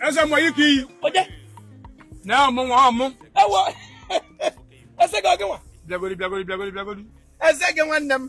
eze mgbe ike iyi onye na ọmụ nwa ọmụ ewo eze gị ọgịnwa bịagodi bịagodi bịagodi bịagodi eze gị nwanne m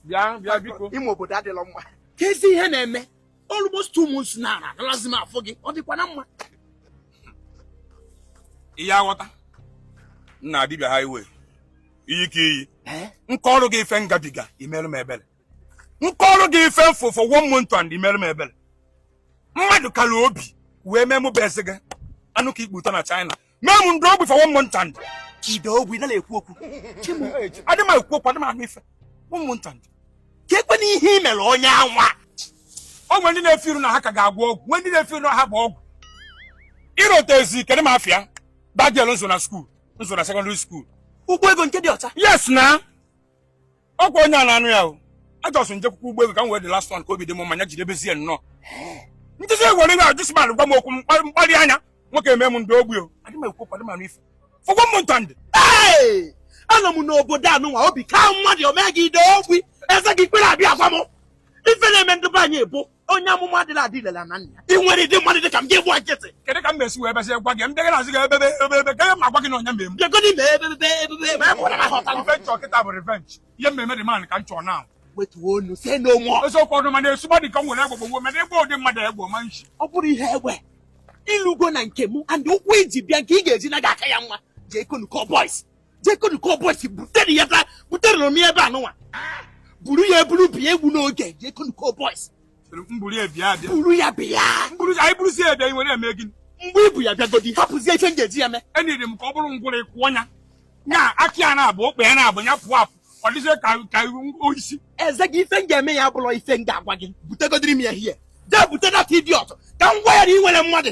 bịa bịa biko ime obodo adịlọ mma kezi ihe na-eme almost two months na na analazi m afụ gị ọ dịkwa na mma ị ya-aghọta nna dibịa highway iyi ka iyi nke ọrụ gị ife m gabiga i merọ m ebere nke ọrụ gị ife m fụ for one month and i merọ m ebere mmadụ kara obi wee mee mụ bụ eze gị anụ ka ikputa na China mee m m daa ogbi for one month and ị daa ogbi na na-ekwu okwu adị m ekwu okwu adị m anụ ife one month and ka ekwe na ihe i mere onye anwa o nwere ndị na-efe iru na ha ka ga-agwọ ọgwụ nwee ndị na-efe iru na ha bụ ọgwụ ịrụta ezi kedụ m afịa dagel nso na skuul nso na sekọndịrị skuul ụgbọ ego nke dị ọcha yes na ọkwa onye a na-anụ ya o ajọsụ njekwukwu ụgbọ ego ka m wee the last one ka obi dị m manya jidebezie nnọọ ntụzi egwere na ajụsman gwa m okwu mkparị anya nwoke eme m m daa ogbi o adị m ekwu okwu adị m anụ ife for one month and anọ m n'obodo anụnwa obi ka mmadụ o mee gị ị daa ogbi eze gị i kwerọ abịa agwa m ife na-eme ndị be anyị bụ onye amụma adịla adị ilela na nna e nwere ụdị mmadụ dị ka m gị gba nkịtị kedụ ka m ga-esi wee besị gwa gị m dịgị na-azị gị ebebe ebebe ka ma gwa gị na onye mmemme bịagodi mee ebebe ebebe ebe m hụrụ na ha ọtara revenge ọ kịta bụ revenge ihe mmemme the man ka m chọọ na wetuo onu say no more eziokwu ọdụ mana esugba dị ka m were agbagbo nwe mana egbe ụdị mmadụ egbo ma nshi ọ bụrụ ihe egbe ịlụgo na nke m and ụkwụ i ji bịa ka ị ga-eji na gị aka ya nwa jee konu kọ boys jekonu ka ọbọchị butere ya taa butere na ebe anụnwa buru ya eburu bịa egwu n'oge jekonu ka ọbọchị mburu ya bịa bịa buru ya bịa mburu anyị burusi ya bịa iwere eme gịnị mgbe ibu ya bịagodi hapụzie ife m ga-eji ya mee enyere m ka ọ bụrụ ngwụrọ ịkwụ ọnya nya akị ya na-abụ okpe ya na-abụ ya pụọ apụ ọ dịzie ka ka oisi eze gị ife m ga-eme ya abụrọ ife m ga-agwa gị butegodiri m ya hie jee bute that idiot ka m gwa ya na e nwere mmadụ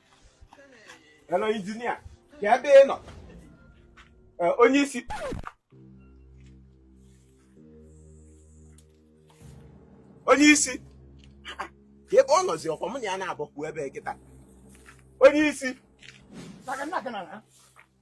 Hello, injinia. Kee ebe ị nọ? Eh, onye isi. Onye isi. Kee ebe ọ nọzi ọkwa mụ na ya naabọ kwụ ebe kịta. Onye isi.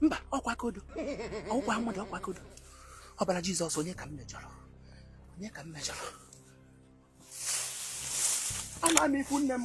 mba ọkwa ka ọdọ ọ bụkwa mmadụ ọkwa ka ọdọ ọbara jizọs onye ka m mejọrọ onye ka m mejọrọ ana m ikwu nne m